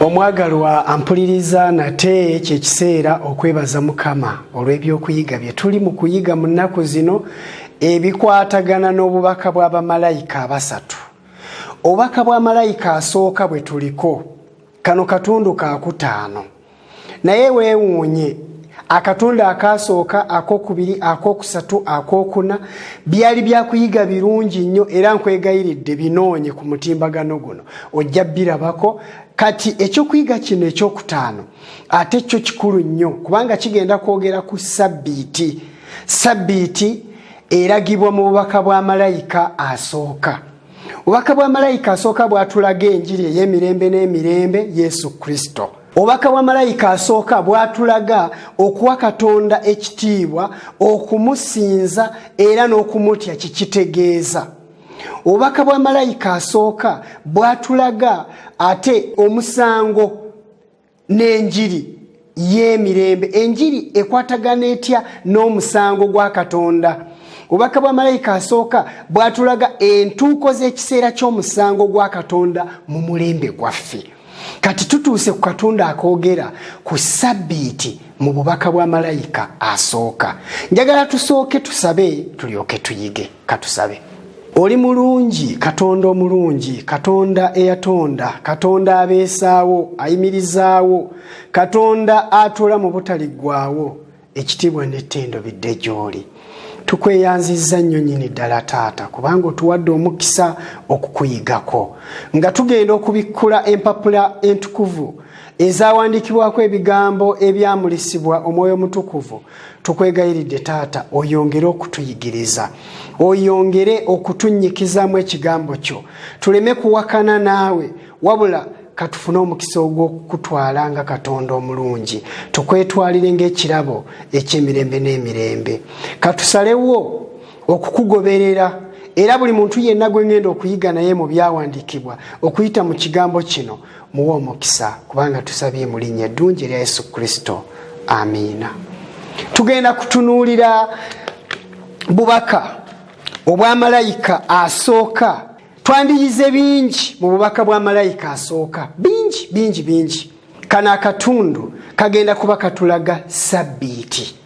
omwagalwa ampuliriza nate kyekiseera okwebaza mukama olw'ebyokuyiga bye tuli mu kuyiga mu nnaku zino ebikwatagana n'obubaka bwa bamalayika abasatu obubaka bwa malayika asooka bwe tuliko kano katundu kakutaano naye weewuunye akatonda akaasooka akokubiri akokusatu akokuna byali byakuyiga birungi nnyo era nkwegayiridde binoonye ku mutimbagano guno ojja birabako kati ekyokuyiga kino ekyokutaano ate kyo kikulu nnyo kubanga kigenda kwogera ku sabbiiti sabbiiti eragibwa mu bubaka bwa malayika asooka obubaka bwa malayika asooka bwatulaga enjiri ey'emirembe n'emirembe yesu kristo obubaka bwa malayika asooka bwatulaga okuwa katonda ekitiibwa okumusinza era n'okumutya kikitegeeza obubaka bwa malayika asooka bwatulaga ate omusango n'enjiri y'emirembe enjiri ekwatagana etya n'omusango gwa katonda obubaka bwa malayika asooka bwatulaga entuuko z'ekiseera ky'omusango gwa katonda mu mulembe gwaffe kati tutuuse ku katonda akoogera ku sabbiiti mu bubaka bwa malayika asooka njagala tusooke tusabe tulyoke tuyige katusabe oli mulungi katonda omulungi katonda eyatonda katonda abeesaawo ayimirizaawo katonda atuula mu butaliggwawo ekitiibwa n'ettendo bidde gy'oli tukweyanzizza nnyo nyini ddala taata kubanga otuwadde omukisa okukuyigako nga tugenda okubikkula empapula entukuvu ezawandiikibwako ebigambo ebyamulisibwa omwoyo omutukuvu tukwegayiridde taata oyongere okutuyigiriza oyongere okutunyikizaamu ekigambo kyo tuleme kuwakana naawe wabula katufune omukisa ogw'okukutwala nga katonda omulungi tukwetwalire ngaekirabo ekyemirembe n'emirembe katusalewo okukugoberera era buli muntu yenna gwe ngenda okuyiga naye mu byawandiikibwa okuyita mu kigambo kino muwe omukisa kubanga tusabye mu linnya eddungi erya yesu kristo amiina tugenda kutunuulira bubaka obwa malayika asooka twandiyize bingi mu bubaka bwa malayika asooka bingi bingi bingi kano akatundu kagenda kuba katulaga sabbiiti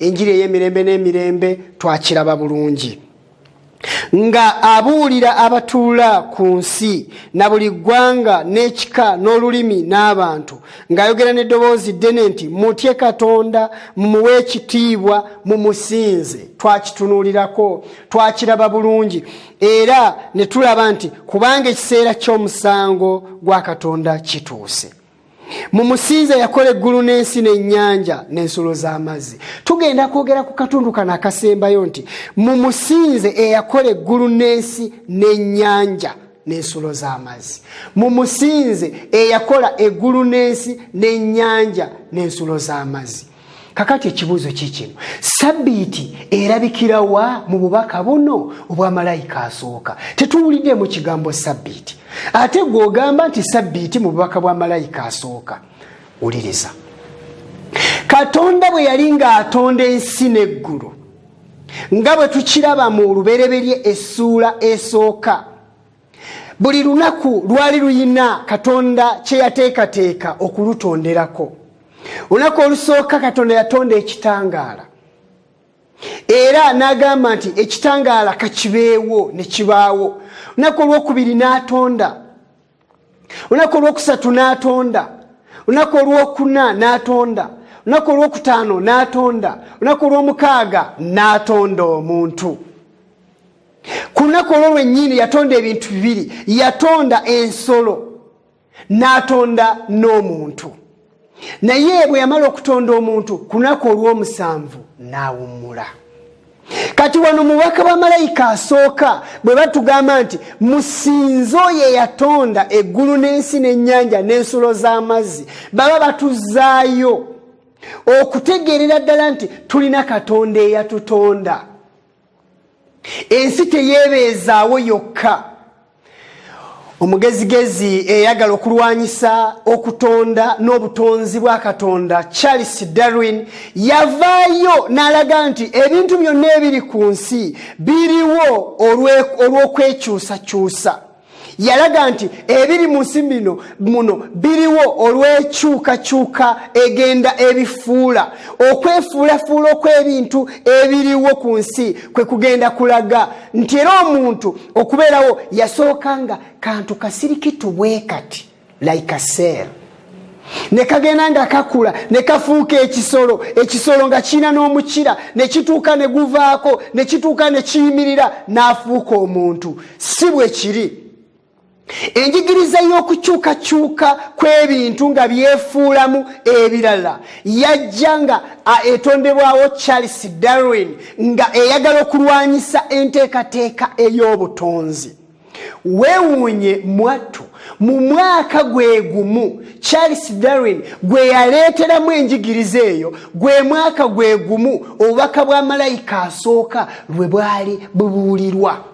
enjiri ey'emirembe n'emirembe twakiraba bulungi nga abuulira abatuula ku nsi na buli ggwanga n'ekika n'olulimi n'abantu ng'ayogera n'eddoboozi ddene nti mutye katonda mumuwe ekitiibwa mu musinze twakitunuulirako twakiraba bulungi era ne tulaba nti kubanga ekiseera ky'omusango gwa katonda kituuse mu musinza yakola eggulu n'ensi n'ennyanja n'ensulo z'amazzi tugenda kwogera ku katundu kano akasembayo nti mu musinze eyakola eggulu n'ensi n'ennyanja n'ensulo z'amazzi mu musinze eyakola eggulu n'ensi n'ennyanja n'ensulo z'amazzi kakati ekibuuzo kikino sabiiti erabikirawa mu bubaka buno obwa malayika asooka tetuwuliddemu kigambo sabiiti ate gweogamba nti sabiiti mu bubaka bwa malayika asooka wuliriza katonda bwe yali ng'atonda ensi n'eggulu nga bwe tukiraba mu lubereberye essuula esooka buli lunaku lwali luyina katonda kyeyateekateeka okulutonderako olunaku olusooka katonda yatonda ekitangaala era n'agamba nti ekitangaala kakibeewo ne kibaawo olunaku olwokubiri n'atonda olunaku olwokusatu n'atonda olunaku olwokuna n'atonda olunaku olwokutaano n'atonda olunaku olwomukaaga n'atonda omuntu ku lunaku olwo lwennyini yatonda ebintu bibiri yatonda ensolo n'atonda n'omuntu naye bwe yamala okutonda omuntu ku lunaku olw'omusanvu n'awummula kati wano mubaka wa malayika asooka bwe batugamba nti musinze oyo eyatonda eggulu n'ensi n'ennyanja n'ensulo z'amazzi baba batuzaayo okutegeerera ddala nti tulina katonda eyatutonda ensi teyeebeezaawo yokka omugezigezi eyagala okulwanyisa okutonda n'obutonzi bwa katonda charles darwin yavaayo n'alaga nti ebintu byonna ebiri ku nsi biriwo olw'okwekyusakyusa yalaga nti ebiri mu nsi bino muno biriwo olw'ekyukakyuka egenda ebifuula okwefuulafuula okw'ebintu ebiriwo ku nsi kwe kugenda kulaga nti era omuntu okubeerawo yasooka nga kantu kasirikitu bwe kati like a cell ne kagenda nga kakula ne kafuuka ekisolo ekisolo nga kiina n'omukira ne kituuka ne guvaako ne kituuka ne kiyimirira n'afuuka omuntu si bwe kiri enjigiriza y'okukyukakyuka kw'ebintu nga byefuulamu ebirala yajja nga etondebwawo charles darwin nga eyagala okulwanyisa enteekateeka ey'obutonzi weewuunye mwattu mu mwaka gwe gumu charles darwin gwe yaleeteramu enjigiriza eyo gwe mwaka gwe gumu obubaka bwa malayika asooka lwe bwali bubuulirwa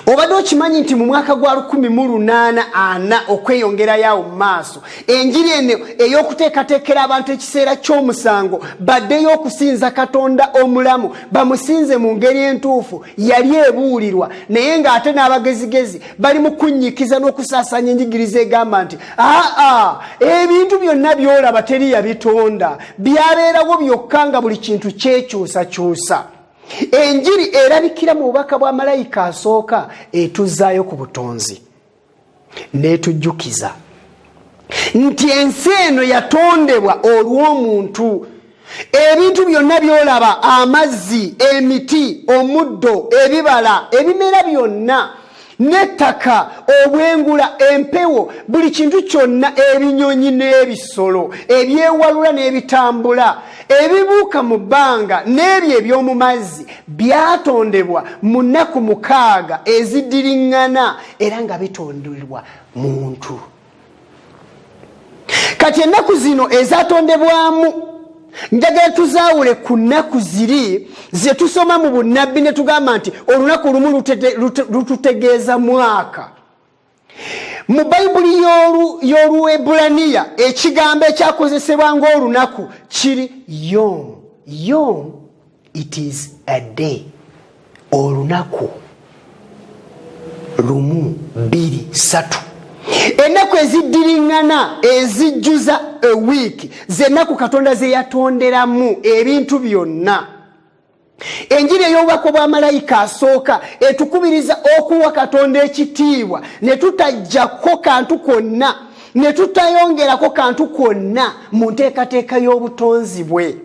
obadde okimanyi nti mu mwaka gwa 1844 okweyongerayo awo mu maaso enjiri eno ey'okuteekateekera abantu ekiseera ky'omusango baddeyo okusinza katonda omulamu bamusinze mu ngeri entuufu yali ebuulirwa naye ng'ate n'abagezigezi bali mu kunnyikiza n'okusaasanya enjigiriza egamba nti aa ebintu byonna byolaba teri yabitonda byabeerawo byokka nga buli kintu kyekyusakyusa enjiri erabikira mu bubaka bwa malayika asooka etuzaayo ku butonzi netujjukiza nti ensi eno yatondebwa olw'omuntu ebintu byonna byolaba amazzi emiti omuddo ebibala ebimera byonna n'ettaka obwengula empewo buli kintu kyonna ebinyonyi n'ebisolo ebyewalula n'ebitambula ebibuuka mu bbanga n'ebyo eby'omu mazzi byatondebwa mu nnaku mukaaga ezidiriŋŋana era nga bitondebwa muntu kati ennaku zino ezatondebwamu njagala tuzaawule ku nnaku ziri ze tusoma mu bunnabbi ne tugamba nti olunaku lumu lututegeeza mwaka mu bayibuli y'oluebulaniya ekigambo ekyakozesebwa ng'olunaku kiri yomu yomu it is a day olunaku lumu bbiri satu ennaku eziddiriŋŋana ezijjuza ewiiki zennaku katonda ze yatonderamu ebintu byonna enjiri ey'obubaka bwa malayika asooka etukubiriza okuwa katonda ekitiibwa ne tutajjako kantu kwonna ne tutayongerako kantu kwonna mu nteekateeka y'obutonzi bwe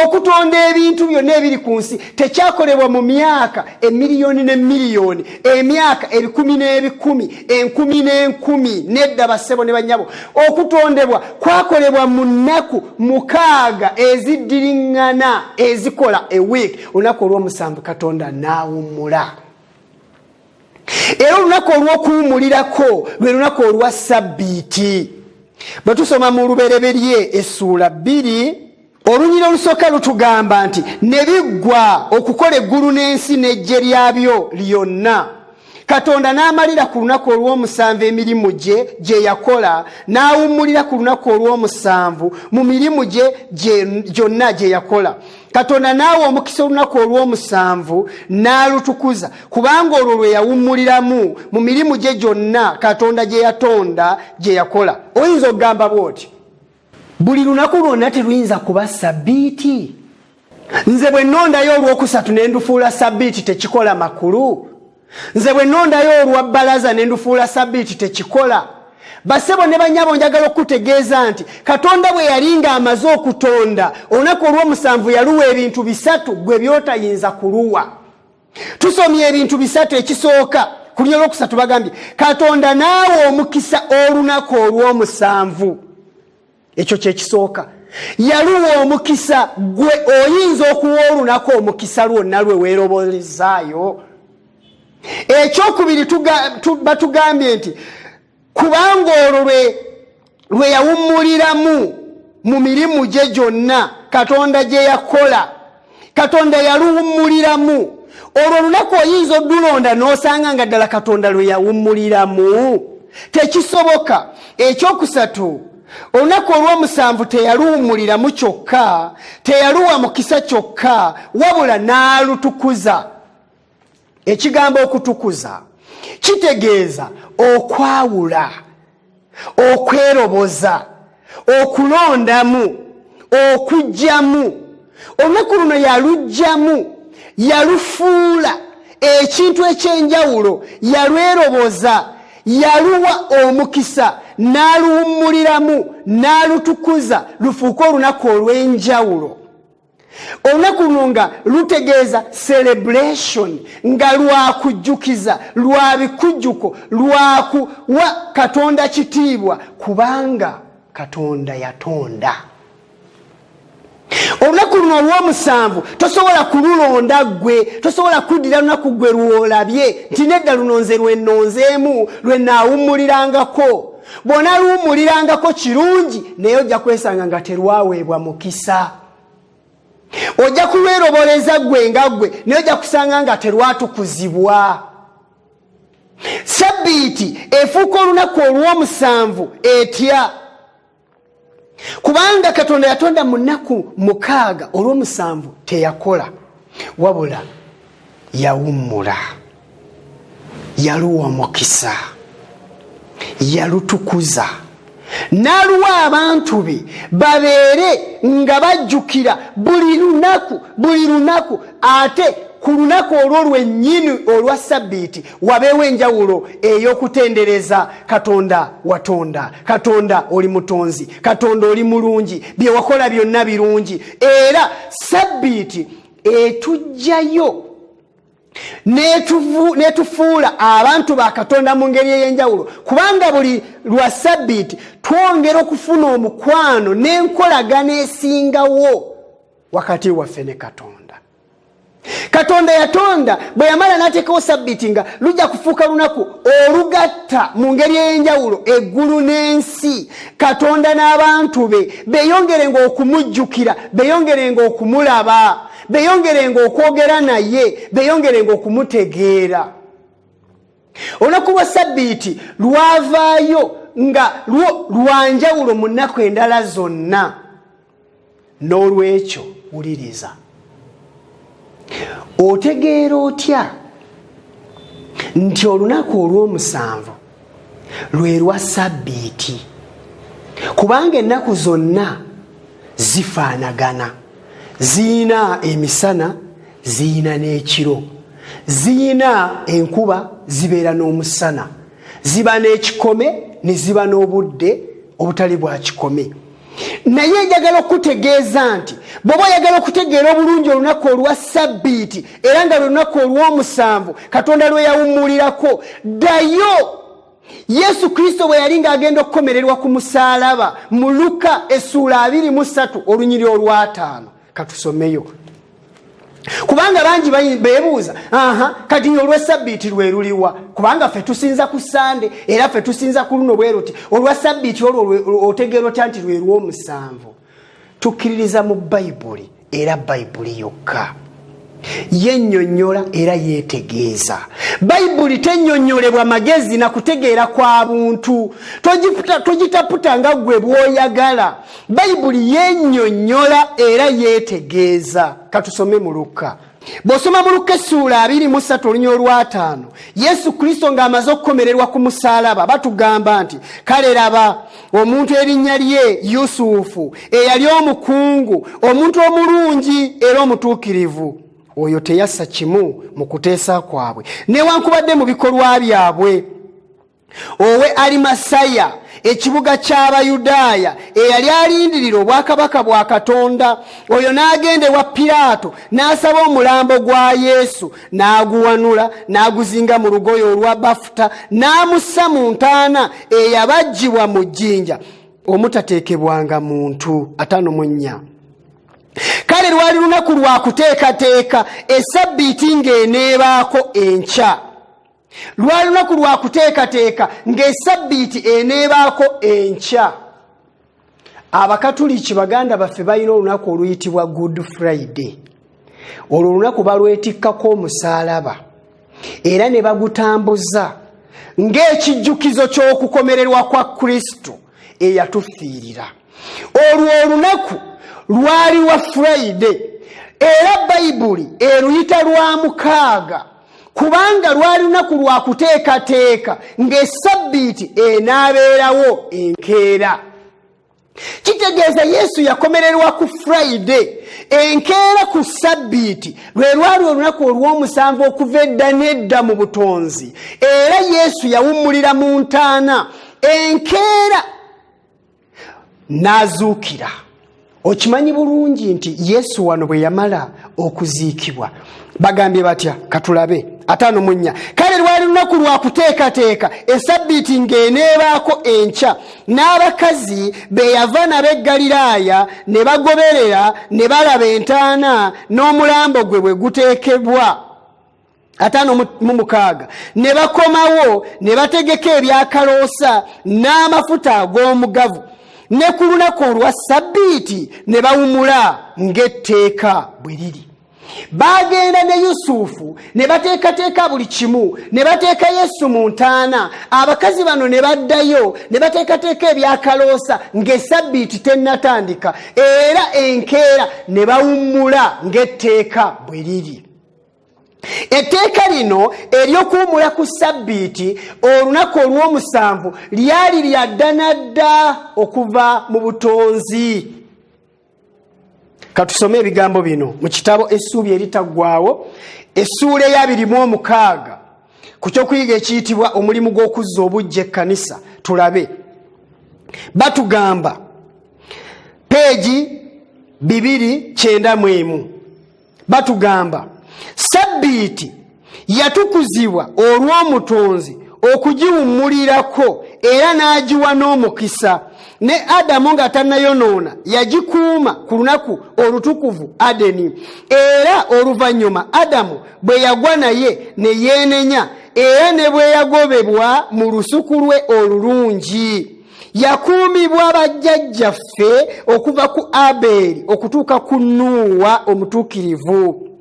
okutonda ebintu byonna ebiri ku nsi tekyakolebwa mu myaka emiliyoni ne miliyoni emyaka ebikumi n'ebikumi enkumi n'enkumi nedda bassebo ne bannyabo okutondebwa kwakolebwa mu nnaku mukaaga eziddiriŋŋana ezikola ewiiki olunaku olw'omusanvu katonda n'awummula era olunaku olw'okuwumulirako lwe lunaku olwa sabbiiti bwe tusoma mu lubereberye essuula bbiri olunyira olusooka lutugamba nti ne biggwa okukola eggulu n'ensi n'ejje lyabyo lyonna katonda n'amalira ku lunaku olw'omusanvu emirimu gye gye yakola n'awummulira ku lunaku olw'omusanvu mu mirimu gye gyonna gye yakola katonda naawe omukisa olunaku olwomusanvu n'alutukuza kubanga olwo lwe yawummuliramu mu mirimu gye gyonna katonda gye yatonda gye yakola oyinza okugamba bw'oti buli lunaku lwonna teruyinza kuba sabbiiti nze bwe nnondayo olwokusatu ne ndufuula sabbiiti tekikola makulu nze bwe nondayo olwa bbalaza ne ndufuula sabiiti tekikola basebo ne banyabo njagala okukutegeeza nti katonda bwe yali ng'amaze okutonda olunaku olw'omusanvu yaluwa ebintu bisatu gwe byotayinza kuluwa tusomye ebintu bisatu ekisooka ku lunya olwokusatu bagambye katonda naawe omukisa olunaku olw'omusanvu ekyo kyekisooka yaluwa omukisa gwe oyinza okuwa olunaku omukisa lwonna lwe weerobolezaayo ekyokubiri batugambye nti kubanga olwo lwe yawummuliramu mu mirimu gye gyonna katonda gye yakola katonda yaluwummuliramu olwo olunaku oyinza odulonda n'osanga nga ddala katonda lwe yawummuliramu tekisoboka ekyokusatu olunaku olw'omusanvu teyaluwummuliramu kyokka teyaluwa mukisa kyokka wabula n'alutukuza ekigambo okutukuza kitegeeza okwawula okweroboza okulondamu okugyamu olunaku luno yalugyamu yalufuula ekintu ekyenjawulo yalweroboza yaluwa omukisa n'aluwummuliramu n'alutukuza lufuuke olunaku olw'enjawulo olunaku luno nga lutegeeza celebration nga lwakujjukiza lwa bikujjuko lwakuwa katonda kitiibwa kubanga katonda yatonda olunaku luno olwomusanvu tosobola kululonda gwe tosobola kuddira lunaku gwe lwolabye nti nedda luno nze lwenonzeemu lwenaawummulirangako bw'onaluwummulirangako kirungi naye ojja kwesanga nga terwaweebwa mukisa ojja kulweroboleza ggwe nga ggwe naye ojja kusanga nga terwatukuzibwa sabbiiti efuuka olunaku olw'omusanvu etya kubanga katonda yatonda mu nnaku mukaaga olw'omusanvu teyakola wabula yawummula yaluwa omukisa yalutukuza n'aluwa abantu be babeere nga bajjukira buli lunaku buli lunaku ate ku lunaku olwo lwennyini olwa sabbiiti wabeewo enjawulo ey'okutendereza katonda watonda katonda oli mutonzi katonda oli mulungi bye wakola byonna birungi era sabbiiti etujjayo netufuula abantu ba katonda mu ngeri ey'enjawulo kubanga buli lwa sabbiiti twongera okufuna omukwano n'enkolagana esingawo wakati waffe ne katonda katonda yatonda bwe yamala n'ateekawo sabbiti nga lujja kufuuka lunaku olugatta mu ngeri ey'enjawulo eggulu n'ensi katonda n'abantu be beeyongerenga okumujjukira beeyongerenga okumulaba beeyongerenga okwogera naye beeyongerenga okumutegeera olunaku lwa sabbiiti lwavaayo nga lwo lwanjawulo mu nnaku endala zonna n'olwekyo wuliriza otegeera otya nti olunaku olw'omusanvu lwe lwa sabbiiti kubanga ennaku zonna zifaanagana ziyina emisana ziyina n'ekiro ziyina enkuba zibeera n'omusana ziba n'ekikome ne ziba n'obudde obutali bwa kikome naye njagala okukutegeeza nti bwoba oyagala okutegeera obulungi olunaku olwa sabbiiti era nga lwelunaku olw'omusanvu katonda lwe yawummulirako ddayo yesu kristo bwe yali ng'agenda okukomererwa ku musaalaba mu luka essuula 23 olunyiri olwataano katusomeyo kubanga bangi bebuuza aha kati nyo olwesabbiiti lweruliwa kubanga fe tusinza ku sande era fe tusinza ku luno bwe ruti olwa sabbiiti olwo otegeera otya nti lwerwomusanvu tukkiririza mu bayibuli era bayibuli yokka yenyonyola era yetegeeza bayibuli tenyonyolebwa magezi na kutegeera kwa buntu togitaputa nga gwe bwoyagala bayibuli yenyonyola era yetegeeza katusome mu lukka bw'osoma mu lukka essuula abiri mu ssatu olunya olwataano yesu kristo ng'amaze okukomererwa ku musaalaba batugamba nti kale laba omuntu erinnya lye yusufu eyali omukungu omuntu omulungi era omutuukirivu oyo teyassa kimu mu kuteesa kwabwe newankubadde mu bikolwa byabwe owe alimasaya ekibuga ky'abayudaaya eyali alindirira obwakabaka bwa katonda oyo n'agenda ewa piraato n'asaba omulambo gwa yesu n'aguwanula n'aguzinga mu lugoye olwa bafuta n'amussa mu ntaana eyabajjibwa mu jjinja omutateekebwanga muntu atano mu nnya kale lwali lunaku lwa kuteekateeka esabbiiti ng'eneebaako enkya lwali lunaku lwa kuteekateeka ng'esabbiiti eneebaako enkya abakatuliki baganda baffe balina olunaku oluyitibwa good friday olwo olunaku balwetikkako omusaalaba era ne bagutambuza ng'ekijjukizo ky'okukomererwa kwa kristo eyatufiirira olwo olunaku lwali wa friday era bayibuli eruyita lwa mukaaga kubanga lwali lunaku lwa kuteekateeka ng'esabbiiti enaabeerawo enkeera kitegeeza yesu yakomererwa ku friday enkeera ku sabbiiti lwe lwali olunaku olw'omusanvu okuva edda n'edda mu butonzi era yesu yawummulira mu ntaana enkeera n'azuukira okimanyi bulungi nti yesu wano bwe yamala okuziikibwa bagambye batya katulabe ataano mu nnya kale lwali lunaku lwa kuteekateeka esabbiiti ng'eneebaako enkya n'abakazi be yava nabo e ggaliraaya ne bagoberera ne balaba entaana n'omulambo gwe bwe guteekebwa ataano mu mukaaga ne bakomawo ne bategeka ebyakaloosa n'amafuta ag'omugavu ne ku lunaku olwa sabbiiti ne bawumula ng'etteeka bwe liri bagenda ne yusufu ne bateekateeka buli kimu ne bateeka yesu mu ntaana abakazi bano ne baddayo ne bateekateeka ebyakaloosa ng'esabbiiti tennatandika era enkeera ne bawummula ng'etteeka bwe liri etteeka lino ery'okuwumula ku ssabbiiti olunaku olw'omusanvu lyali lya ddana dda okuva mu butonzi katusome ebigambo bino mu kitabo essuubi eritaggwawo essuula eyabiri mu omukaaga ku kyokuyiga ekiyitibwa omulimu gw'okuzza obujja ekkanisa tulabe batugamba peegi bibiri kyenda mu emu batugamba sabbiiti yatukuzibwa olw'omutonzi okugiwummulirako era n'agiwa n'omukisa ne adamu nga tannayonoona yagikuuma ku lunaku olutukuvu adeni era oluvannyuma adamu bwe yagwa naye ne yeenenya era ne bwe yagobebwa mu lusuku lwe olulungi yakuumibwa bajjajjaffe okuva ku abeeri okutuuka ku nuuwa omutuukirivu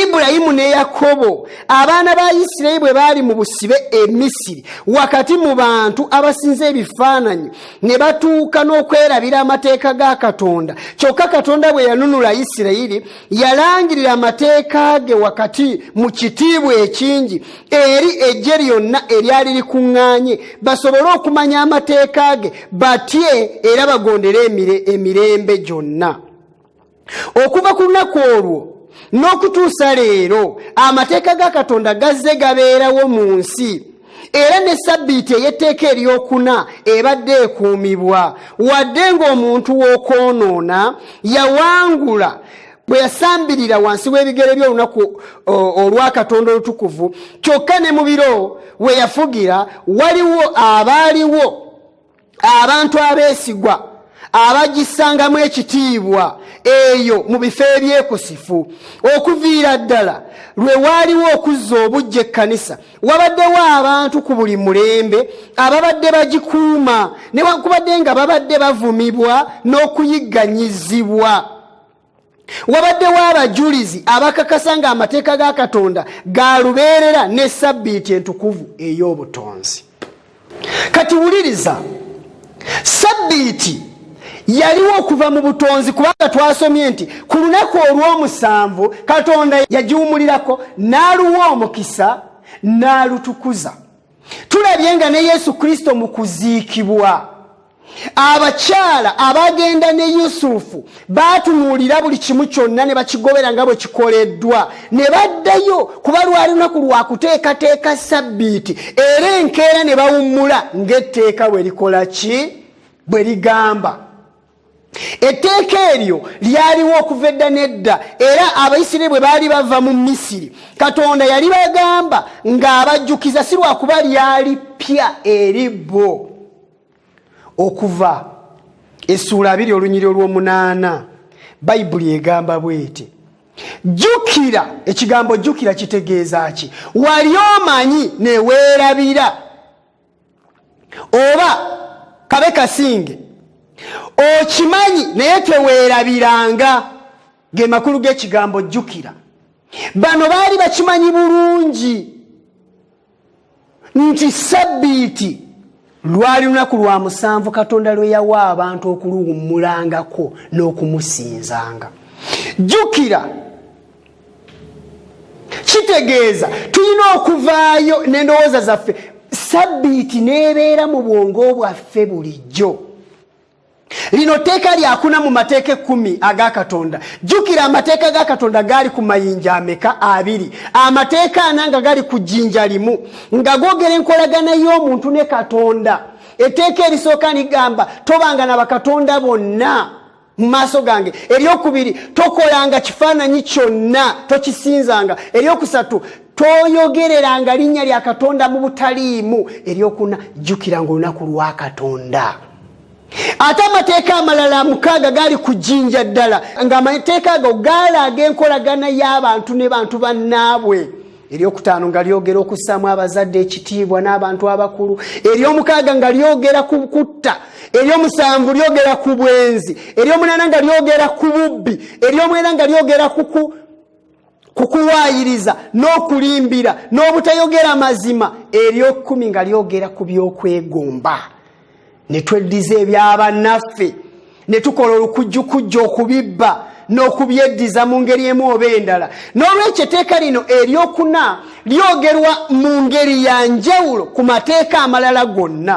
ibulayimu ne yakobo abaana ba isirayiri bwe baali mu busibe e misiri wakati mu bantu abasinza ebifaananyi ne batuuka n'okwerabira amateeka ga katonda kyokka katonda bwe yanunula isirayiri yalangirira amateeka ge wakati mu kitiibwa ekingi eri eggye lyonna eryali likuŋŋaanye basobole okumanya amateeka ge batye era bagondere emirembe gyonna okuva ku lunaku olwo n'okutuusa leero amateeka ga katonda gazze gabeerawo mu nsi era ne sabbiiti ey'etteeka eryokuna ebadde ekuumibwa wadde ng'omuntu w'okwonoona yawangula bwe yasambirira wansi w'ebigere by'olunaku olwakatonda olutukuvu kyokka ne mu biro we yafugira waliwo abaaliwo abantu abeesigwa abagissangamu ekitiibwa eyo mu bifo ebyekusifu okuviira ddala lwe waaliwo okuzza obujja ekkanisa wabaddewo abantu ku buli mulembe ababadde bagikuuma newankubadde nga babadde bavumibwa n'okuyigganyizibwa wabaddewo abajulizi abakakasa nga amateeka ga katonda ga lubeerera ne sabbiiti entukuvu ey'obutonzi kati wuliriza sabbiiti yaliwo okuva mu butonzi kubanga twasomye nti ku lunaku olw'omusanvu katonda yagiwumulirako n'aluwa omukisa n'alutukuza tulabye nga ne yesu kristo mu kuziikibwa abakyala abagenda ne yusufu baatunuulira buli kimu kyonna ne bakigobera nga bwe kikoleddwa ne baddayo kuba lwali lunaku lwa kuteekateeka sabbiiti era enkeera ne bawummula ng'etteeka bwe likola ki bwe ligamba etteeka eryo lyaliwo okuva edda n'edda era abaisiraeri bwe baali bava mu misiri katonda yali bagamba ng'abajjukiza si lwakuba lyali ppya eri bo okuva essuula abiri olunyiri olw'omunaana bayibuli egamba bwete jjukira ekigambo jjukira kitegeeza ki wali omanyi neweerabira oba kabe kasinge okimanyi naye teweerabiranga ge makulu g'ekigambo jjukira bano baali bakimanyi bulungi nti sabbiiti lwali lunaku lwa musanvu katonda lwe yawa abantu okuluwummulangako n'okumusinzanga jjukira kitegeeza tulina okuvaayo n'endowooza zaffe sabbiiti n'ebeera mu bwongo bwaffe bulijjo lino tteeka lyakuna mu mateeka ekkumi aga katonda jjukira amateeka ga katonda gaali ku mayinja ameka abiri amateeka ana nga gali ku jjinja limu nga gogera enkolagana y'omuntu ne katonda etteeka erisooka ligamba tobanga na bakatonda bonna mu maaso gange eryokubiri tokolanga kifaananyi kyonna tokisinzanga eryokusatu toyogereranga linnya lya katonda mu butaliimu eryokuna jjukira nga olunaku lwa katonda ate amateeka amalala mukaaga gaali ku jjinja ddala ng'amateeka ago gaalaaga enkolagana y'abantu ne bantu bannaabwe eryokutaano nga lyogera okussaamu abazadde ekitiibwa n'abantu abakulu eryomukaaga nga lyogera ku kutta eryomusanvu lyogera ku bwenzi eryomunaana nga lyogera ku bubbi eryomwena nga lyogera ku ku kuwaayiriza n'okulimbira n'obutayogera mazima eryokumi nga lyogera ku by'okwegomba ne tweddiza ebyabannaffe ne tukola olukujjukujja okubibba n'okubyeddiza mu ngeri emu oba endala n'olwekyo eteeka lino eryokuna lyogerwa mu ngeri ya njawulo ku mateeka amalala gonna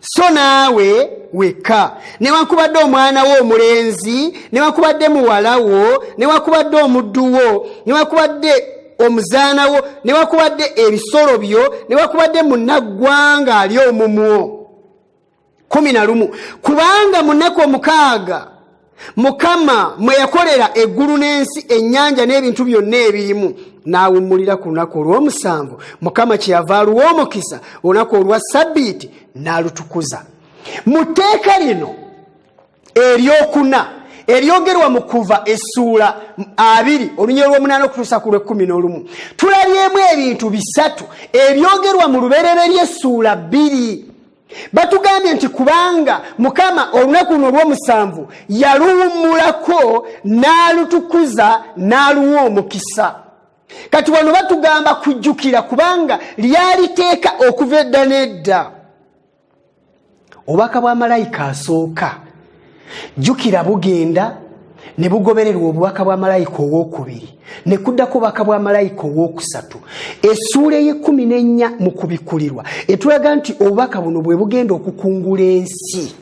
so naawe wekka newankubadde omwana wo omulenzi newankubadde muwala wo newankubadde omuddu wo newankubadde omuzaana wo newankubadde ebisolo byo newankubadde munaggwanga ali omumwo kumi na lumu kubanga munaku omukaaga mukama mwe yakolera eggulu n'ensi ennyanja n'ebintu byonna ebirimu n'awummulira ku lunaku olw'omusanvu mukama kyeyava aluwa omukisa olunaku olwa sabbiiti n'alutukuza mu tteeka lino eryokuna eryogerwa mu kuva essuula abiri olunya olw'omunaana okutuusa ku lw'ekkumi n'olumu tulabyemu ebintu bisatu ebyogerwa mu lubereberye essuula bbiri batugambye nti kubanga mukama olunaku luno olwomusanvu yaluwummulako n'alutukuza n'aluwa omukisa kati wano batugamba kujjukira kubanga lyaliteeka okuva edda n'edda obubaka bwa malayika asooka jjukira bugenda ne bugobererwa obubaka bwa malayika owokubiri ne kuddako obubaka bwa malayika owokusatu esuula eyekumi nenya mu kubikulirwa etulaga nti obubaka buno bwe bugenda okukungula ensi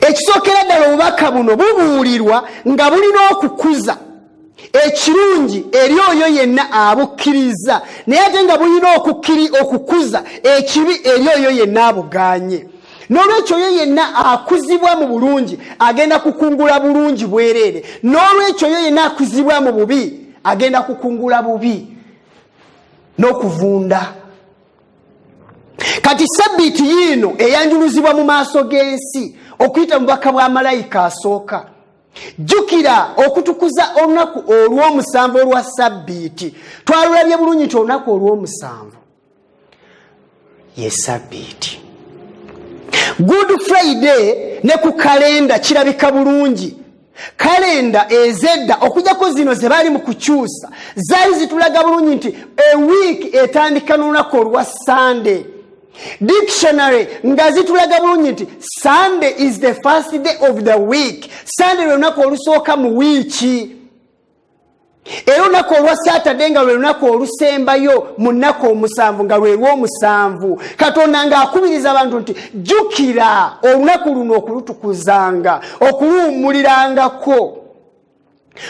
ekisookera ddala obubaka buno bubuulirwa nga bulina okukuza ekirungi eri oyo yenna abukkiriza naye ate nga bulina okukiri okukuza ekibi eri oyo yenna abuganye n'olwekyo oyo yenna akuzibwa mu bulungi agenda kukungula bulungi bwereere n'olwekyo oyo yenna akuzibwa mu bubi agenda kukungula bubi n'okuvunda kati sabbiiti yiino eyanjuluzibwa mu maaso g'ensi okuyita mu bubaka bwa malayika asooka jjukira okutukuza olunaku olw'omusanvu olwa sabbiiti twalulabye bulungi nti olunaku olw'omusanvu ye sabbiiti good friday ne ku kalenda kirabika bulungi kalenda ezedda okujjako zino ze baali mu kukyusa zaali zitulaga bulungi nti ewiiki etandika n'olunaku olwa sande dictionary nga zitulaga bulungi nti sunday is the first day of the week sunday lwe lunaku olusooka mu wiiki era olunaku olwa saturday nga lwe lunaku olusembayo mu nnaku omusanvu nga lwelwomusanvu katonda ng'akubiriza abantu nti jjukira olunaku luno okulutukuzanga okuluwummulirangako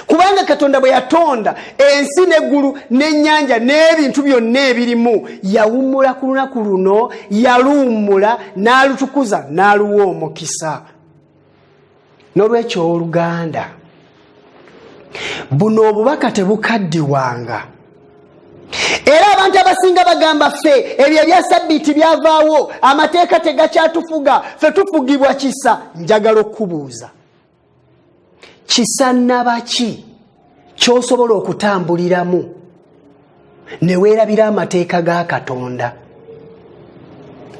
kubanga katonda bwe yatonda ensi n'eggulu n'ennyanja n'ebintu byonna ebirimu yawummula ku lunaku luno yaluwummula n'alutukuza n'aluwa omukisa n'olwekyo oluganda buno obubaka tebukaddiwanga era abantu abasinga bagamba ffe ebyo ebya sabbiiti byavaawo amateeka tegakyatufuga fe tufugibwa kisa njagala okubuuza kisannaba ki kyosobola okutambuliramu ne weerabira amateeka ga katonda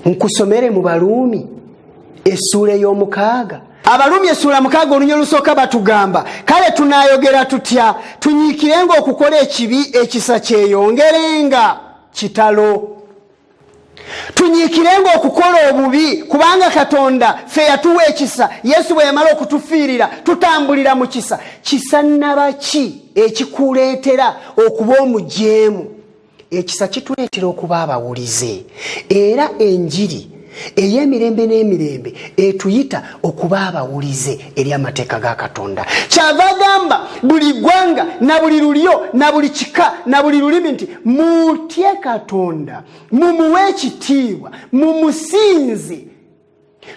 nkusomere mu baluumi essuula ey'omukaaga abalumi esula mukaaga olunya olusooka batugamba kale tunayogera tutya tunyiikirenga okukola ekibi ekisa kyeyongerenga kitalo tunyiikirenga okukola obubi kubanga katonda ffe yatuwa ekisa yesu bwe yamala okutufiirira tutambulira mu kisa kisa naba ki ekikuleetera okuba omujeemu ekisa kituleetera okuba abawulize era enjiri ey'emirembe n'emirembe etuyita okuba abawulize eri amateeka ga katonda kyava agamba buli ggwanga na buli lulyo na buli kika na buli lulimi nti mutye katonda mumuwe ekitiibwa mumusinze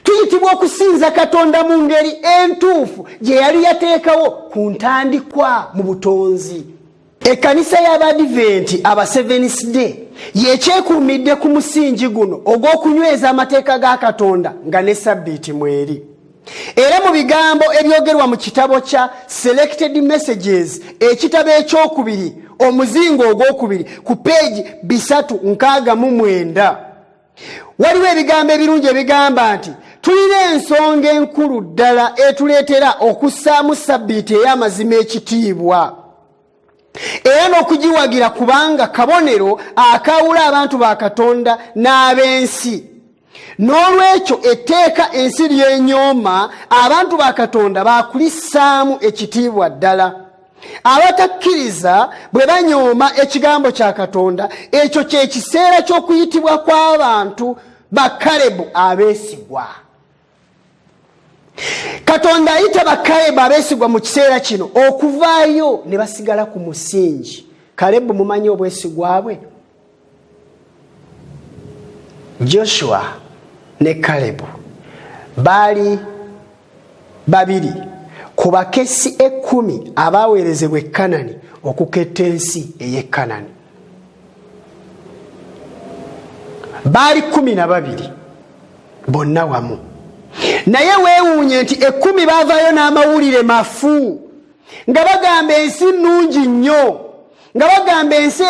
tuyitibwa okusinza katonda mu ngeri entuufu gye yali yateekawo ku ntandikwa mu butonzi Ekkanisa y'Abadiventi aba Seventh Day yekyekuumidde ku musingi guno ogw'okunyweza amateeka ga Katonda nga ne sabbiiti mweri. Era mu bigambo ebyogerwa mu kitabo kya Selected Messages ekitabo ekyokubiri omuzingo ogwokubiri ku peegi bisatu nkaaga mu mwenda. waliwo ebigambo ebirungi ebigamba nti tulina ensonga enkulu ddala etuleetera okussaamu sabbiiti ey'amazima ekitiibwa era n'okugiwagira kubanga kabonero akaawula abantu ba katonda n'ab'ensi n'olwekyo etteeka ensi lyenyooma abantu ba katonda baakulissaamu ekitiibwa ddala abatakkiriza bwe banyooma ekigambo kya katonda ekyo kyekiseera ky'okuyitibwa kw'abantu bakalebu abeesigwa katonda ayita bakalebu abeesigwa mu kiseera kino okuvaayo ne basigala ku musingi kalebu mumanyi obwesigwa bwe joshua ne kalebu baali babiri ku bakesi ekkumi abaaweerezebwa ekanani okuketta ensi ey'ekanani baali kumi na babiri bonna wamu naye weewuunye nti ekkumi baavaayo n'amawulire mafu nga bagamba ensi nnungi nnyo nga bagamba ensi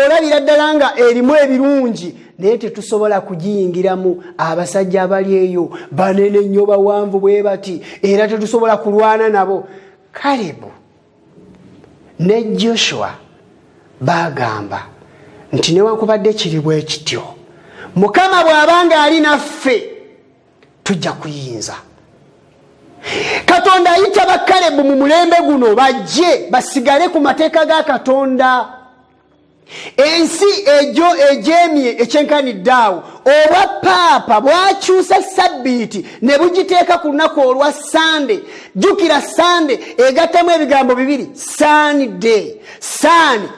olabira ddala nga erimu ebirungi naye tetusobola kugiyingiramu abasajja abali eyo banene nnyo bawanvu bwe bati era tetusobola kulwana nabo kalebu ne joshua bagamba nti newankubadde kiri bwe kityo mukama bw'aba ng'ali naffe tujja kuyinza katonda ayita bakalebu mu mulembe guno bajje basigale ku mateeka ga katonda ensi egyo egyemye ekyenkanidde awo obwa paapa bwakyusa sabbiiti ne bugiteeka ku lunaku olwa sande jjukira sande egattamu ebigambo bibiri sande sande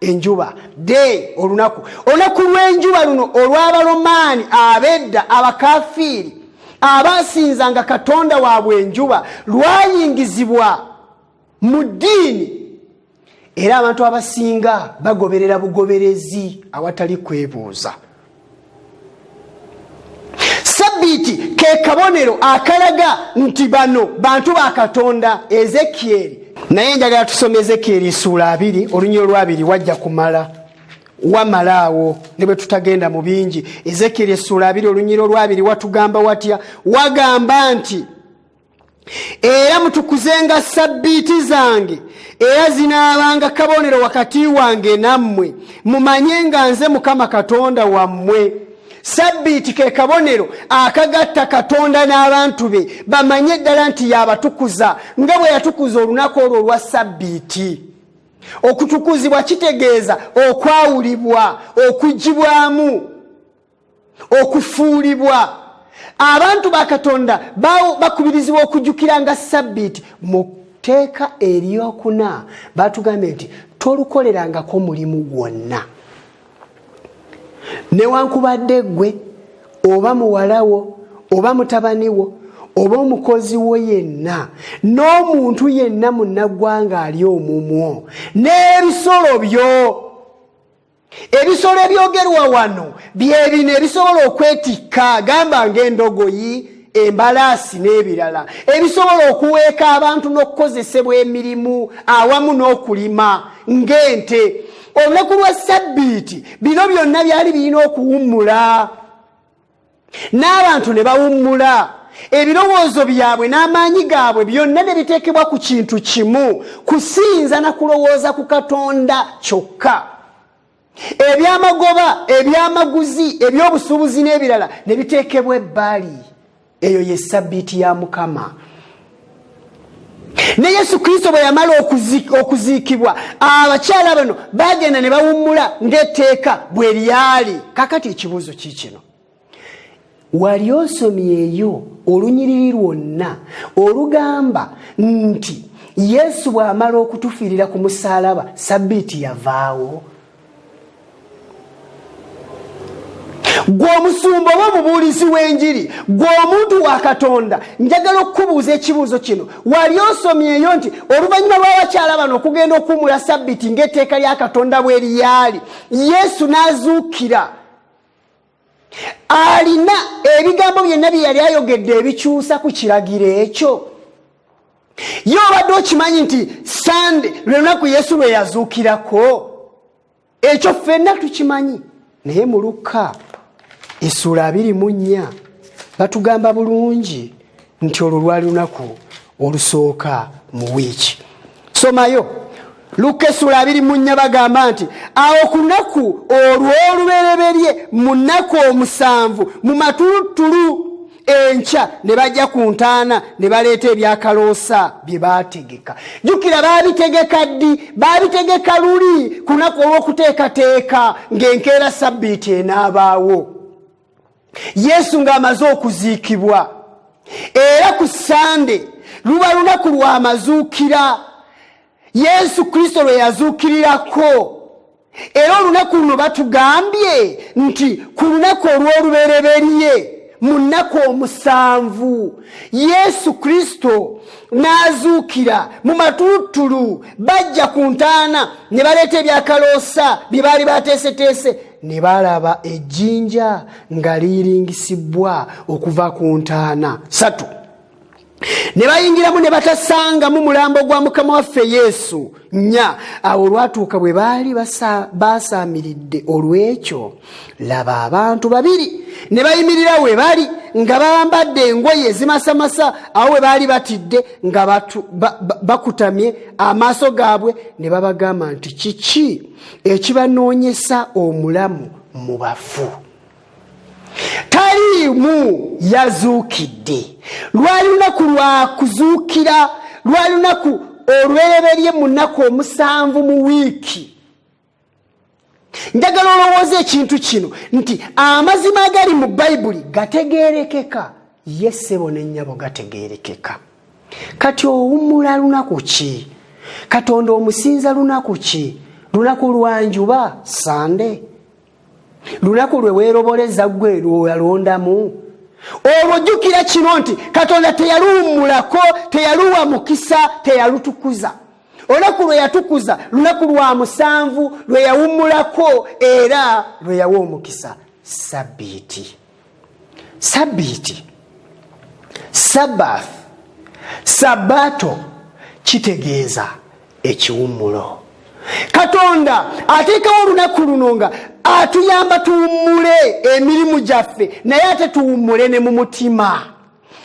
enjuba day olunaku olunaku lw'enjuba luno olw'abalomaani abedda abakafiiri abaasinzanga katonda waabwe enjuba lwayingizibwa mu ddiini era abantu abasinga bagoberera bugoberezi awatali kwebuuza sabbiiti ke kabonero akalaga nti bano bantu ba katonda ezekieri naye njagala tusoma ezekieri suula abiri olunyiro lwabiri wajja kumala wamalaawo ne bwe tutagenda mu bingi ezekieri esuula abiri olunyiro lwabiri watugamba watya wagamba nti era mutukuzenga sabbiiti zange era zinaabanga kabonero wakati wange nammwe mumanye nga nze mukama katonda wammwe sabbiiti ke kabonero akagatta katonda n'abantu be bamanye eddala nti yabatukuza nga bwe yatukuza olunaku olwo olwa sabbiiti okutukuzibwa kitegeeza okwawulibwa okugibwamu okufuulibwa abantu ba katonda bakubirizibwa okujukira nga sabbiiti mu tteeka eryokuna batugambye nti tolukolerangako mulimu gwonna newankubadde gwe oba muwalawo oba mutabaniwo oba omukozi wo yenna n'omuntu yenna munnaggwanga ali omumwo n'ebisolo byo ebisolo ebyogerwa wano byebino ebisobola okwetikka gamba ngaendogoyi embalaasi n'ebirala ebisobola okuweeka abantu n'okukozesebwa emirimu awamu n'okulima ng'ente olunaku lwa sabbiiti bino byonna byali birina okuwummula n'abantu ne bawummula ebirowoozo byabwe n'amaanyi gaabwe byonna ne biteekebwa ku kintu kimu kusinza na kulowooza ku katonda kyokka ebyamagoba ebyamaguzi ebyobusuubuzi n'ebirala ne biteekebwa ebbali eyo ye sabbiiti ya mukama ne yesu kristo bwe yamala okuziikibwa abakyala bano bagenda ne bawummula ng'etteeka bwe lyali kakati ekibuuzo kiikino wali osomyeyo olunyiriri lwonna olugamba nti yesu bw'amala okutufiirira ku musaalaba sabbiiti yavaawo gwe omusumba oba omubuulizi w'enjiri gwe omuntu wa katonda njagala okukubuuza ekibuuzo kino wali osomyeyo nti oluvannyuma lw'abakyala bano okugenda okuwumula sabbiti ng'etteeka lya katonda bwe liyaali yesu n'azuukira alina ebigambo byonna bye yali ayogedde ebikyusa ku kiragiro ekyo ye obadde okimanyi nti sande lwe lunaku yesu lwe yazuukirako ekyo ffenna tukimanyi naye mu lukka esuula abiri mu nnya batugamba bulungi nti olwo lwali lunaku olusooka mu wiiki somayo lukka essula abiri mu nnya bagamba nti awo ku lunaku olw'olubereberye mu nnaku omusanvu mu matuluttulu enkya ne bajja ku ntaana ne baleeta ebyakaloosa bye baategeka jjukira baabitegeka ddi baabitegeka luli ku lunaku olw'okuteekateeka ng'enkeera sabbiiti enaabaawo yesu ng'amaze okuziikibwa era ku sande luba lunaku lw'amazuukira yesu kristo lwe yazuukirirako era olunaku luno batugambye nti ku lunaku olw'olubereberye mu nnaku omusanvu yesu kristo n'azuukira mu matulutulu bajja ku ntaana ne baleeta ebyakaloosa bye baali bateeseteese ne baalaba ejjinja nga liyiringisibbwa okuva ku ntaana satu ne bayingiramu ne batasangamu mulambo gwa mukama waffe yesu nya awo olwatuuka bwe baali baasaamiridde olw'ekyo laba abantu babiri ne bayimirira we bali nga bambadde engoye ezimasamasa awo we baali batidde nga bakutamye amaaso gaabwe ne babagamba nti kiki ekibanoonyesa omulamu mu bafu taliimu yazuukidde lwali lunaku lwa kuzuukira lwali lunaku olwereberye mu nnaku omusanvu mu wiiki njagala olowooza ekintu kino nti amazima agali mu bayibuli gategerekeka ye ssebo ne nnyabo gategeerekeka kati owummula lunaku ki katonda omusinza lunaku ki lunaku lwanjuba sande lunaku lwe weeroboleza ggwe lwoyalondamu olwo jjukira kino nti katonda teyaluwummulako teyaluwa mukisa teyalutukuza olunaku lwe yatukuza lunaku lwa musanvu lwe yawummulako era lwe yawa omukisa sabbiiti sabiiti sabath sabato kitegeeza ekiwummulo katonda ateekawo olunaku luno nga atuyamba tuwummule emirimu gyaffe naye ate tuwummule ne mu mutima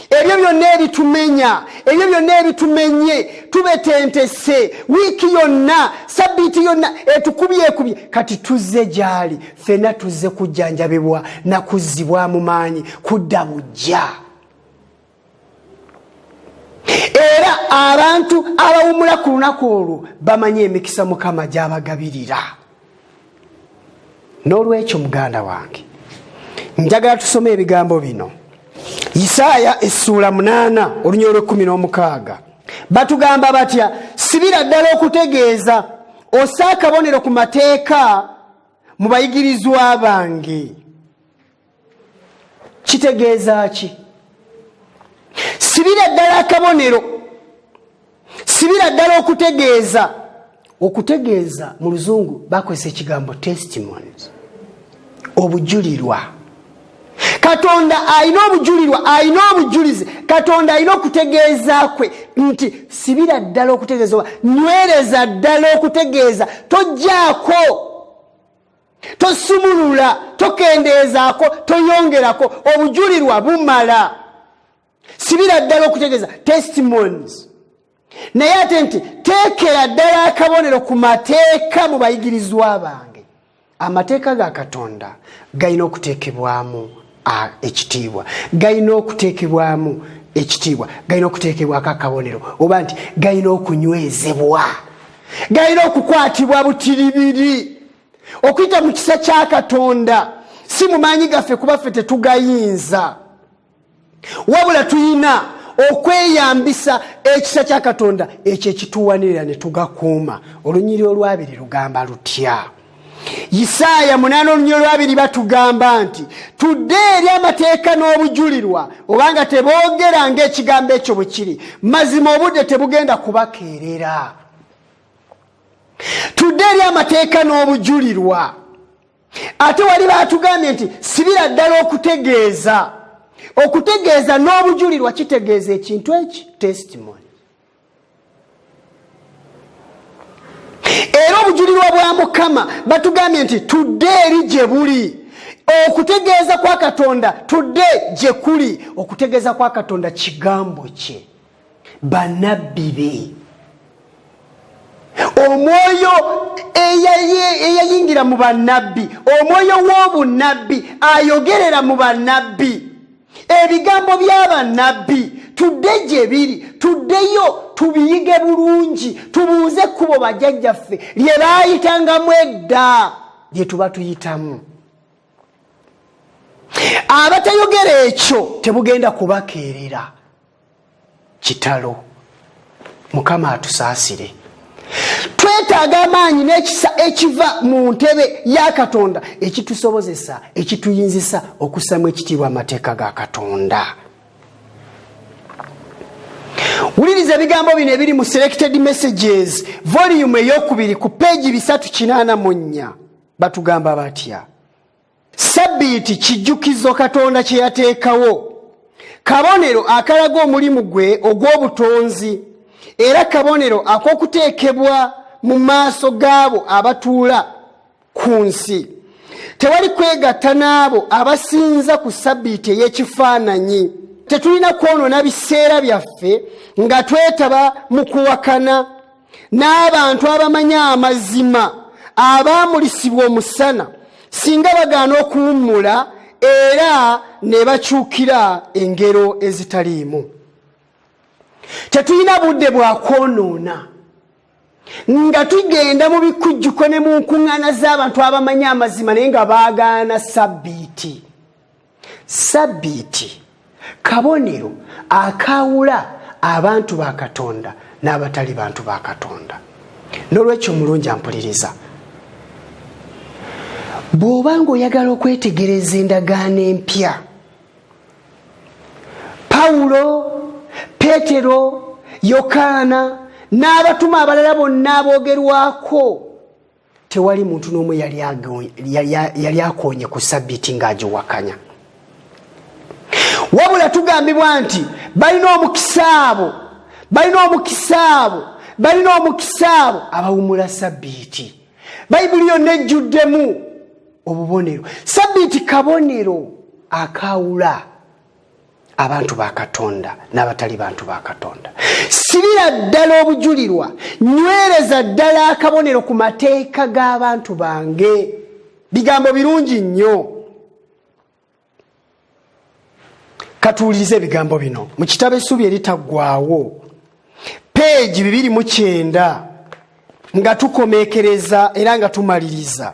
ebyo byonna ebitumenya ebyo byonna ebitumenye tubetentese wiiki yonna sabbiiti yonna etukubyekubye kati tuzze gyali fena tuzze kujjanjabibwa nakuzzibwamu maanyi kudda bujja era abantu abawumula ku lunaku olwo bamanyi emikisa mukama gyabagabirira n'olwekyo muganda wange njagala tusome ebigambo bino isaaya essuula munaana olunya olwekumi n'omukaaga batugamba batya sibira ddala okutegeeza osa akabonero ku mateeka mu bayigirizwa bange kitegeeza ki sibira ddala akabonero sibira ddala okutegeeza okutegeeza mu luzungu bakozesa ekigambo testimonies obujulirwa katonda alina obujulirwa alina obujulizi katonda alina okutegeeza kwe nti sibira ddala okutegeeza oba nywereza ddala okutegeeza tojjaako tosumulula tokendeezaako toyongerako obujulirwa bumala sibira ddala okutegeeza testimonies naye ate nti teekera ddala akabonero ku mateeka mu bayigirizwa bange amateeka ga katonda galina okuteekebwamu ekitiibwa galina okuteekebwamu ekitiibwa galina okuteekebwako akabonero oba nti galina okunywezebwa galina okukwatibwa butiribiri okuyita mu kisa kya katonda si mu maanyi gaffe kuba ffe tetugayinza wabula tulina okweyambisa ekisa kya katonda ekyo ekituwanirira ne tugakuuma olunyiri olwabiri lugamba lutya isaaya munaana olunya olwabiri batugamba nti tudde eri amateeka n'obujulirwa obanga teboogera ngaekigambo ekyo bwe kiri mazima obudde tebugenda kubakeerera tudde eri amateeka n'obujulirwa ate wali baatugambye nti sibira ddala okutegeeza okutegeeza n'obujulirwa kitegeeza ekintu eki testimony era obujulirwa bwa mukama batugambye nti tudde eri gye buli okutegeeza kwa katonda tudde gye kuli okutegeeza kwa katonda kigambo kye banabbi be omwoyo eyayingira mu banabbi omwoyo w'obunabbi ayogerera mu banabbi ebigambo by'abannabbi tudde gye biri tuddeyo tubiyige bulungi tubuuze ekkubo bajjajjaffe lye baayitangamu edda lye tuba tuyitamu abatayogera ekyo tebugenda kubakeerera kitalo mukama atusaasire twetaaga amaanyi n'ekisa ekiva mu ntebe ya katonda ekitusobozesa ekituyinzisa okusamu ekitiibwa amateeka ga katonda wuliriza ebigambo bino ebiri mu selected messages voliyumu eyokubiri ku peegi bisatu kinaana mu nnya batugamba batya Sabbiiti kijjukizo Katonda kye yateekawo, kabonero akalaga omulimu gwe ogw'obutonzi, era kabonero ak'okuteekebwa mu maaso g'abo abatuula ku nsi. Tewali kwegatta n'abo abasinza ku sabbiiti ey'ekifaananyi. Tetulina kwonoona biseera byaffe nga twetaba mu kuwakana. n'abantu abamanyi amazima abaamulisibwa omusana singa bagaana okuwummula era ne bakyukira engero ezitaliimu tetulina budde bwa kwonoona nga tugenda mu bikujjuko ne mu nkuŋŋaana z'abantu abamanyi amazima naye nga baagaana sabbiiti sabbiiti kabonero akaawula abantu ba katonda n'abatali bantu ba katonda n'olwekyo mulungi ampuliriza bw'oba ng'oyagala okwetegereza endagaano empya pawulo peetero yokaana n'abatume abalala bonna aboogerwako tewali muntu n'omu yali akonye ku sabbiti ng'agiwakanya wabula tugambibwa nti balina omukisa abo balina omukisa abo balina omukisa abo abawumula sabbiti bayibuli yonna ejjuddemu obubonero sabbiti kabonero akaawula abantu ba katonda n'abatali bantu ba katonda sibira ddala obujulirwa nywereza ddala akabonero ku mateeka g'abantu bange bigambo birungi nnyo katuwuliriza ebigambo bino mu kitabo essuubi eritaggwawo peegi bibiri mu kyenda nga tukomekereza era nga tumaliriza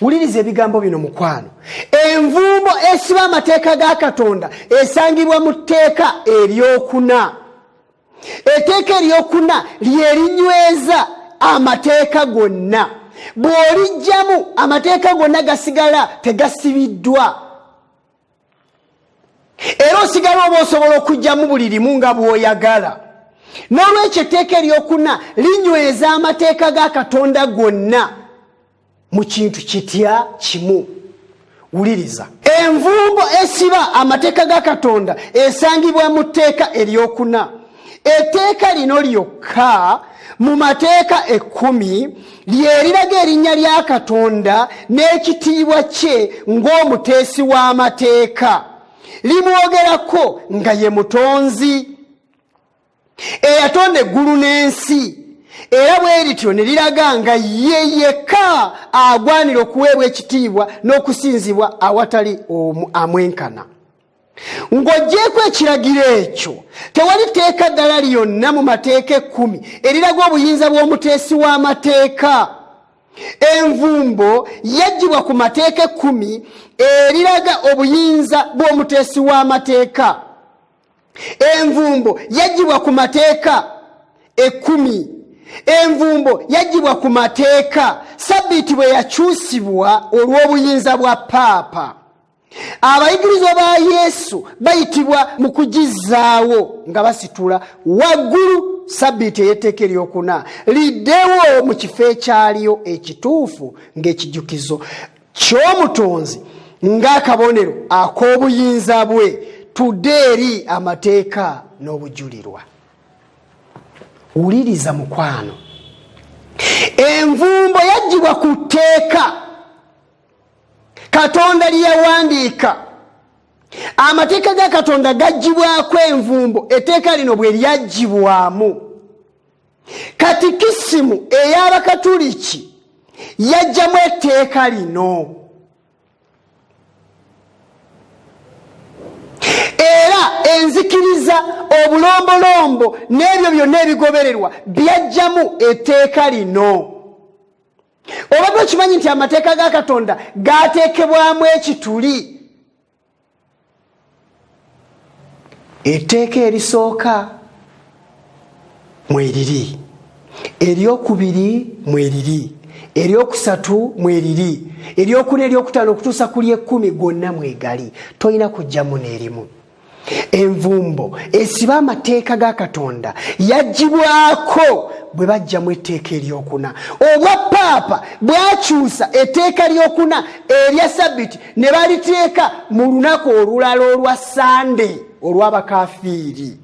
wuliriza ebigambo bino mukwano envumbo esiba amateeka ga katonda esangibwa mu tteeka eryokuna eteeka eryokuna lyerinyweza amateeka gonna bw'olijjamu amateeka gonna gasigala tegasibiddwa era osigala oba osobola okugyamu buli limu nga bw'oyagala n'olwekyo etteeka eryokuna linyweza amateeka ga katonda gonna mu kintu kitya kimu wuliriza envumbo esiba amateeka ga katonda esangibwa mu tteeka eryokuna etteeka lino lyokka mu mateeka ekkumi lyeriraga erinnya lya katonda n'ekitiibwa kye ng'omuteesi w'amateeka limwogerako nga ye mutonzi eyatonda eggulu n'ensi era bwe lityo ne liraga nga ye yekka agwanira okuweebwa ekitiibwa n'okusinzibwa awatali omu amwenkana Ng'oggyeeko ekiragiro ekyo, tewali tteeka ddala lyonna mu mateeka ekkumi eriraga obuyinza bw'omuteesi w'amateeka. Envumbo yaggyibwa ku mateeka ekkumi eriraga obuyinza bw'omuteesi w'amateeka. Envumbo yaggyibwa ku mateeka ekkumi. Envumbo yaggyibwa ku mateeka sabbiiti bwe yakyusibwa olw'obuyinza bwa paapa. abayigirizwa ba yesu bayitibwa mu kugizzaawo nga basitula waggulu sabbiiti ey'etteeka eryokuna liddewo mu kifo ekyaliyo ekituufu ng'ekijukizo ky'omutonzi ng'akabonero ak'obuyinza bwe tudde eri amateeka n'obujulirwa wuliriza mukwano envumbo yaggyibwa ku tteeka katonda lyeyawandiika amateeka ga katonda gaggyibwako envumbo etteeka lino bwe lyaggyibwamu katikisimu ey'abakatuliki yajjamu etteeka lino era enzikiriza obulombolombo n'ebyo byonna ebigobererwa byajjamu etteeka lino obadde okimanyi nti amateeka ga katonda gateekebwamu ekituli etteeka erisooka mweriri eryokubiri mweriri eryokusatu mweriri eryokuna eryokutaano okutuusa ku lyekumi gwonna mwegali tolina kujjamu neerimu envumbo esiba amateeka ga katonda yagibwako bwe bajjamu etteeka eryokuna obwa paapa bwakyusa etteeka lyokuna erya sabbiti ne baliteeka mu lunaku olulala olwa sande olw'abakafiiri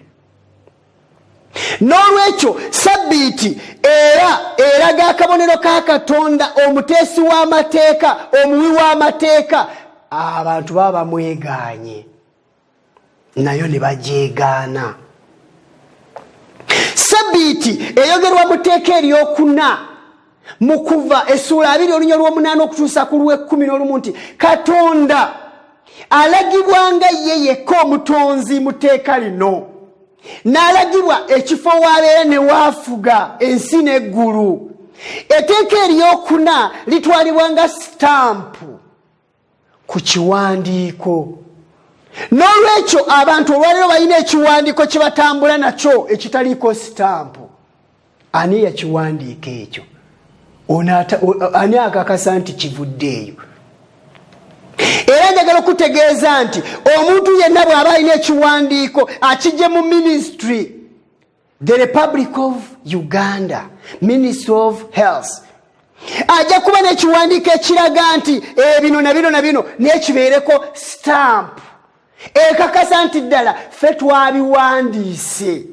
n'olwekyo sabbiiti era eraga akabonero ka katonda omuteesi w'amateeka omuwi w'amateeka abantu baba bamwegaanye nayo ne bagyegaana sabbiiti eyogerwa mu tteeka eryokuna mu kuva essuula abiri olunya lw'omunaana okutuusa ku lw'ekkumi n'olumu nti katonda alagibwanga ye yekka omutonzi mu tteeka lino n'alagibwa ekifo waabeera ne waafuga ensi n'eggulu eteeka eryokuna litwalibwa nga sitampu ku kiwandiiko n'olwekyo abantu olwaliro balina ekiwandiiko kye batambula nakyo ekitaliiko sitampu ani yakiwandiika ekyo ani akakasa nti kivudde eyo era njagala okutegeeza nti omuntu yenna bw'aba alina ekiwandiiko akijje mu minisitry the republic of uganda ministry of health ajja kuba nekiwandiiko ekiraga nti ebino eh, na bino na bino nekibeereko stamp ekakasa nti ddala fe twabiwandiise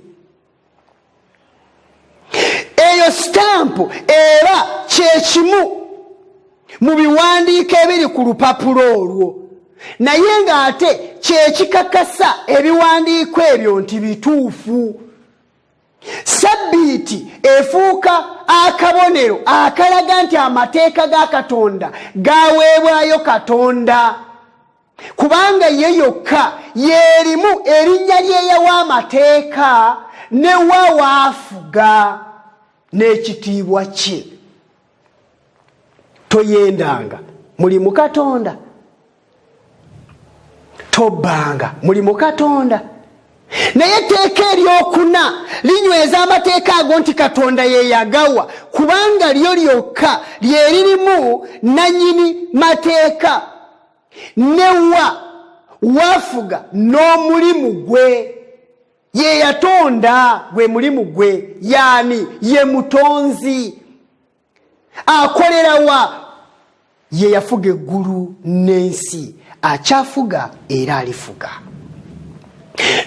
eyo stamp era kyekimu mu biwandiiko ebiri ku lupapula olwo naye ng'ate kyekikakasa ebiwandiiko ebyo nti bituufu sabbiiti efuuka akabonero akalaga nti amateeka ga katonda gaweebwayo katonda kubanga ye yokka yeerimu erinnya lyeyawa amateeka ne wa waafuga n'ekitiibwa kye toyendanga muli mukatonda tobbanga muli mukatonda naye etteeka eryokuna linyweza amateeka ago nti katonda yeyagawa kubanga lyo lyokka lyeririmu nanyini mateeka newa wafuga n'omulimu gwe ye yatonda gwe mulimu gwe yaani ye mutonzi akolerawa ye yafuga eggulu n'ensi akyafuga era alifuga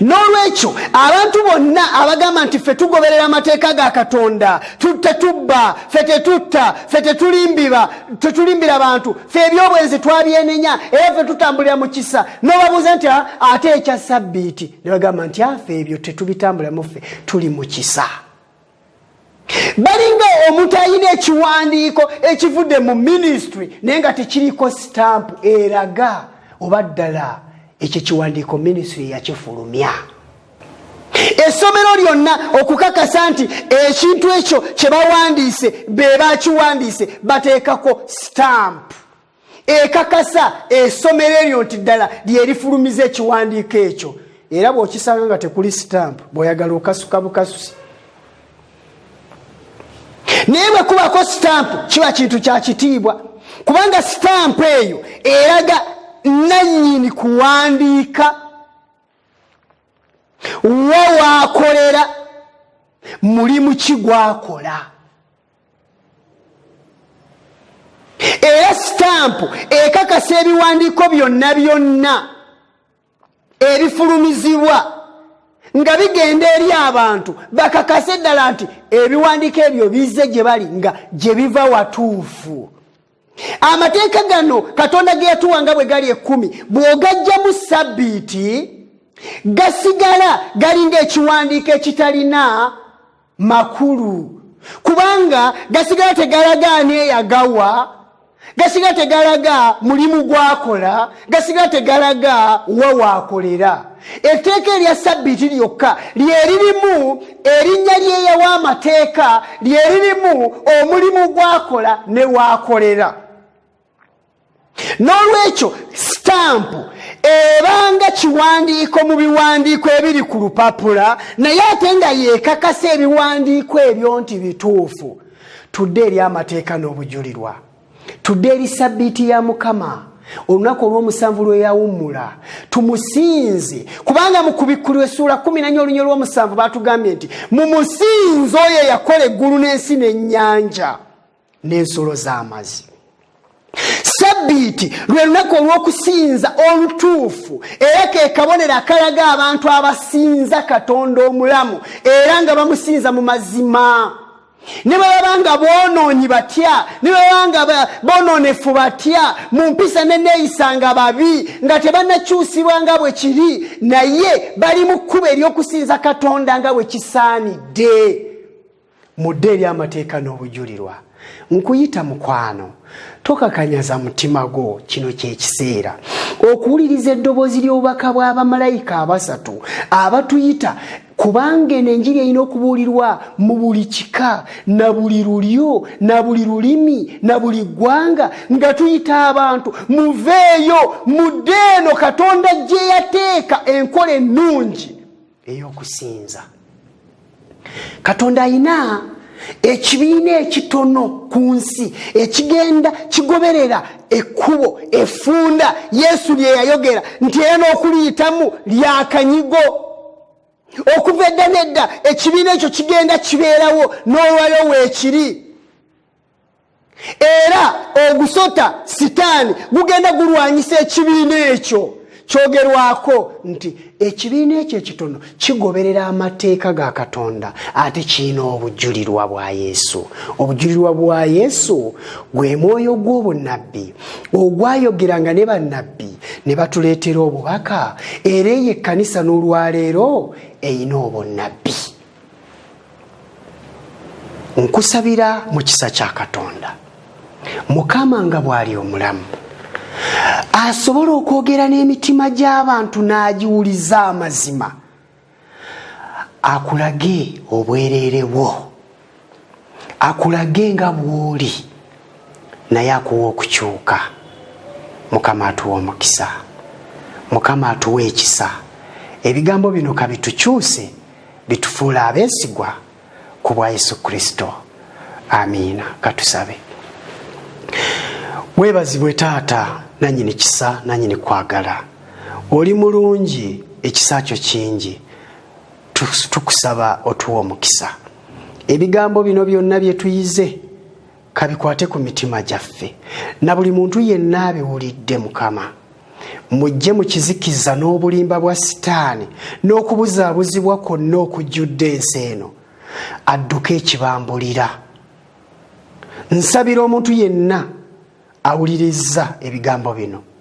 n'olwekyo abantu bonna abagamba nti ffe tugoberera amateeka ga katonda tetubba fe tetutta fe tetulimbiba tetulimbira bantu fe ebyobwenzi twabyenenya era fe tutambulira mu kisa n'obabuuza nti ah, ate ekya sabbiiti ne bagamba nti afe ebyo tetubitambulamu ffe tuli mu kisa balinga omuntu alina ekiwandiiko ekivudde mu minisitule naye nga tekiriko sitampu eraga oba ddala ekyo ekiwandiiko minisitule yakifulumya essomero lyonna okukakasa nti ekintu ekyo kye bawandiise be bakiwandiise bateekako sitampu ekakasa esomero eryo nti ddala lyerifulumiza ekiwandiiko ekyo era bwokisanga nga tekuli sitampu bweoyagala okasuka bukasusi naye bwe kubako sitampu kiba kintu kya kitiibwa kubanga sitampu eyo eraga nannyini kuwandiika wa waakolera mulimu ki gwakola era sitampu ekakasa ebiwandiiko byonna byonna ebifulumizibwa nga bigenda eri abantu bakakase eddala nti ebiwandiiko ebyo bizze gye bali nga gye biva watuufu amateeka gano katonda ge yatuwa nga bwe gali ekkumi bw'ogajjamu sabbiiti gasigala galinga ekiwandiiko ekitalina makulu kubanga gasigala tegalaga ani eyagawa gasigala tegalaga mulimu gwakola gasigala tegalaga wa waakolera etteeka erya sabbiiti lyokka lyeririmu erinnya lyeyawa amateeka lyeririmu omulimu gwakola ne waakolera n'olwekyo sitampu ebanga kiwandiiko mu biwandiiko ebiri ku lupapula naye ate nga yeekakasa ebiwandiiko ebyo nti bituufu tudde eri amateeka n'obujulirwa tudde eri sabbiiti ya mukama olunaku olwomusanvu lweyawummula tumusinze kubanga mu kubikkulirwa essuula kumi nanya olunyo lwomusanvu batugambye nti mu musinze oyo eyakola eggulu n'ensi n'ennyanja n'ensolo z'amazi sabbiiti lwe lunaku olw'okusinza olutuufu era ke kabonero akalaga abantu abasinza katonda omulamu era nga bamusinza mu mazima ne bwe baba nga boonoonyi batya ne bwe baba nga bonoonefu batya mu mpisa neneeyisa nga babi nga tebanakyusibwa nga bwe kiri naye bali mu kkuba ery'okusinza katonda nga bwe kisaanidde mudde eri amateeka n'obujulirwa nkuyita mukwano tokakanyaza mutima gwo kino kyekiseera okuwuliriza eddoboozi ly'obubaka bw'abamalayika abasatu abatuyita kubanga eno enjiri erina okubuulirwa mu buli kika na buli lulyo na buli lulimi na buli ggwanga nga tuyita abantu muveeyo mudde eno katonda gye yateeka enkola ennungi eyokusinza katonda ayina ekibiina ekitono ku nsi ekigenda kigoberera ekkubo efunda yesu lye yayogera nti era n'okuliyitamu lyakanyigo okuva edda nedda ekibiina ekyo kigenda kibeerawo n'olwayo weekiri era ogusota sitaani gugenda gulwanyisa ekibiina ekyo kyogerwako nti ekibiina ekyo ekitono kigoberera amateeka ga katonda ate kirina obujulirwa bwa yesu obujulirwa bwa yesu gwe mwoyo gw'obunabbi ogwayogeranga ne bannabbi ne batuleetera obubaka era eyo ekkanisa n'olwaleero erina obunnabbi nkusabira mu kisa kya katonda mukama nga bw'ali omulamu asobola okwogera n'emitima gy'abantu n'agiwuliza amazima akulage obwereere bwo akulage nga bw'oli naye akuwa okukyuka mukama atuwa omukisa mukama atuwa ekisa ebigambo bino kabitukyuse litufuula abeesigwa ku bwa yesu kristo amiina katusabe webazibwe taata nanyini kisa nanyini kwagala oli mulungi ekisa kyo kingi tukusaba otuwa omukisa ebigambo bino byonna byetuyize kabikwate ku mitima gyaffe na buli muntu yenna abiwulidde mukama mujje mu kizikiza n'obulimba bwa sitaani n'okubuzaabuzibwa kwonna okujjudde ensi eno adduke ekibambulira nsabira omuntu yenna awulirizza ebigambo bino